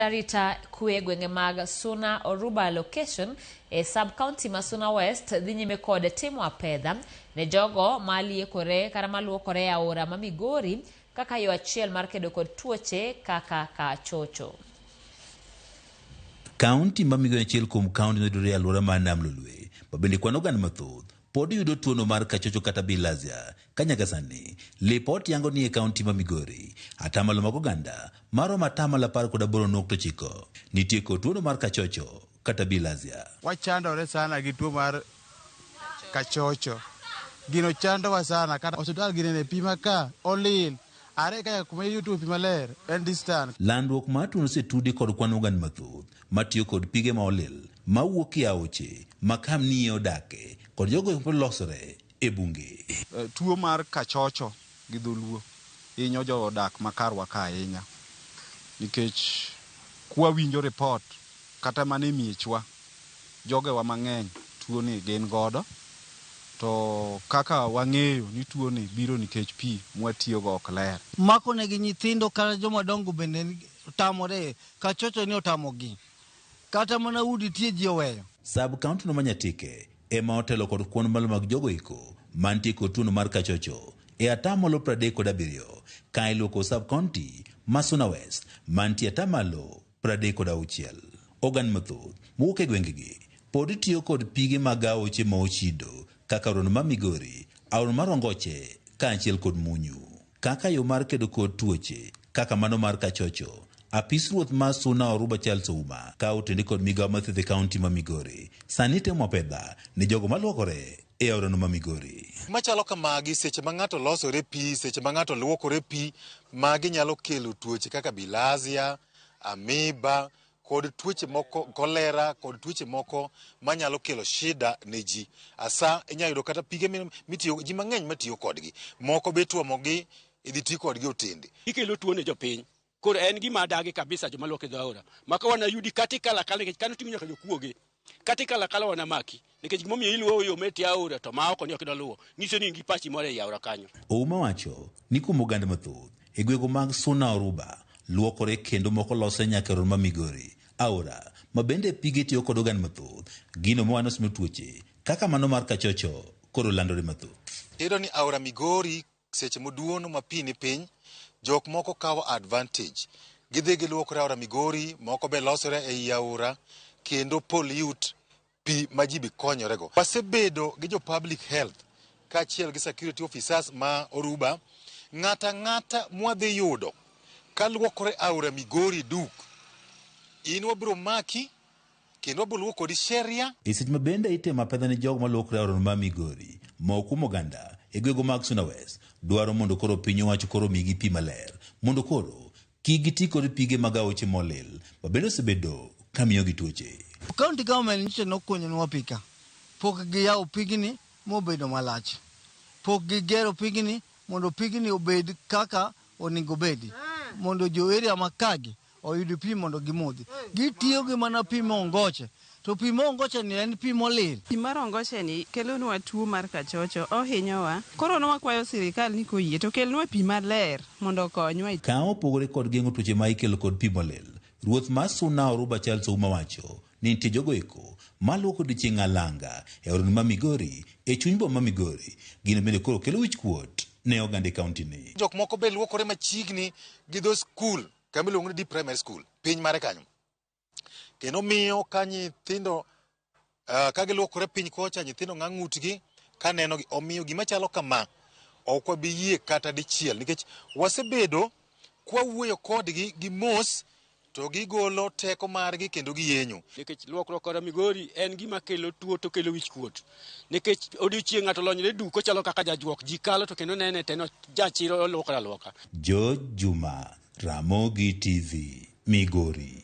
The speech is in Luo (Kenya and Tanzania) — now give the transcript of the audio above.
Arita kwe e gwenge mag Suna Oruba Location e sub county ma Suna West dhi nyime kod timo apedha ne jogo ma liekore kata ma luokore e aora ma Migori kaka yo achiel mar kedo kod tuoche kaka kachocho. Kaunti ma Migori en achiel kuom kaunti ma yudore e alwora mar Nam Lolwe ma bende kwano oganda mathoth pod yudo tuono mar kachocho kata bilharzia ka nyaka sani lipot yango ni e kaunti ma Migori atamalo mag oganda maromo atamalo apar kod aboro nukta ochiko nitie kod tuono mar kachocho kata bilharzia. Wachandore sana gi tuo mar kachocho. Gino chandowa sana kata osiptal gine ne pima ka olil. Are kaka kuma iyutoe pi maler en distan. Landruok mar tuono osetudi kod kwan ogand mathoth matiyo kod pige ma olil mawuok e aoche ma kamnie odake kod jogo eko losore e bunge. Tuo mar kachocho gi dholuo hinyo jo odak ma karwa ka ahinya nikech kwa winjo report kata mana e miechwa, Jogewa mang'eny tuoni gin godo to kaka wang'eyo ni tuoni biro nikech pi mwatiyogo ok ler. Mako negi nyithindo kata joma dongo bende tamore ka chocho ni otamogi. Kata mana udi tie ji oweyo. Sub county no ma Nyatike ema otelo kod kwan malo mag jogo eko mantie kod tuono mar kachocho e ataa malo pradek kod abiriyo ka iluo kod sub county ma Suna West mantie ataa malo 36. Ogan mathoth mowuok e gwengegi pod tiyo kod pige mag aoche ma ochido kaka aorano ma Migori, aorano ma Rongoche kaachiel kod Munyu kaka yo mar kedo kod tuoche kaka mano mar kachocho. Apis ruoth ma Suna Oruba Charles Ouma ka otende kod migao mathieth e kaunti ma Migori sani temo apedha ni jogo maluokore e aorano ma Migori. machalo kamagi seche ma ng'ato losore pi seche ma ng'ato luokore pi magi nyalo kelo tuoche kaka bilazia amiba kod tuoche moko kolera kod tuoche moko manyalo kelo shida ne ji asa inyalo yudo kata pige mi- mitiyo ji mang'eny matiyo kodgi moko be ituomogi idhi ti kodgi otende ikelo tuo ne jopiny Koro en gima adagi kabisa joma luok e dho aora. Maka wana yudi kata ikalo akala nikech kano ting'o nyaka jokuoge. Kata ikalo akala wana maki nikech gima omiyo iluwo yo metie aora to ma oko ni ok idwa luwo. Nyiso ni in gi pachi moro ei aora kanyo. Ouma wacho ni kuom oganda mathoth e gwego mag Suna Oruba luokore kendo moko losre nyaka e ror ma Migori. Aora ma bende pige tiyo kod oganda mathoth gino mowano sino tuoche kaka mano mar kachocho koro landore mathoth. Iyudo ni aora Migori Seche moduono ma pi ni piny, jok moko kawo advantage. Gidhi giluokore aora Migori, moko be losore ei aora kendo pollute pi ma ji be konyorego. Wasebedo gi jo public health kaachiel gi security officers ma Oruba. Ng'ato ang'ata mwadhi yudo kaluokore aora Migori duk, in wabiro maki kendo wabiro luwo kodi sheria E seche ma bende itimo apedha ne jogo malokre aorano ma Migori, moko kuom oganda e gwego mag Suna West dwaro mondo koro piny owacho koro omigi pi maler mondo koro kik giti kod pige mag aoche molil ma bende osebedo ka miyogi tuoche. County government nyicha nokunyonwa pi ka pok giyawo pigni mobedo malach. Pok gigero pigni mondo pigni obed kaka onego obedi mondo jo area ma kagi oyud pi mondo gimodhi. Gitiyo gi mana pi mongoche. To pi mongocheni en pi molil. Pi mar ongocheni kelonwa tuo mar kachocho. Ohinyowa. Koro ne wakwayo sirikal ni koyie to kelnwa pi maler mondo okonywa. Ka opogore kod geng'o tuoche ma ikelo kod pi molil, Ruoth mar Suna Oruba Charles Ouma wacho Ne nitie jogo eko ma luok odiechieng' alanga e aoroni ma Migori, e chuny boma ma Migori. Gino bende koro kelo wichkuot ne oganda e kaunti ni. Jok moko be luokore machiegni gi dho skul kama iluongo ni Deep Primary School, piny mare kanyo. Kendo miyo ka nyithindo uh, ka giluokore piny kocha, nyithindo ng'a ng'utgi ka nenogi. Omiyo gima chalo kama ok wabi yie kata dichiel nikech wasebedo kwawuoyo kodgi gi mos to gigolo teko margi kendo giyenyo. Nikech luokruok kod migori en gima kelo tuo to kelo wich kuot. Nikech odiochieng' ng'ato lonyre duk ochalo kaka jajuok ji kalo to kendo nene teno jachiro oluokre aluoka. George Juma, Ramogi TV, Migori.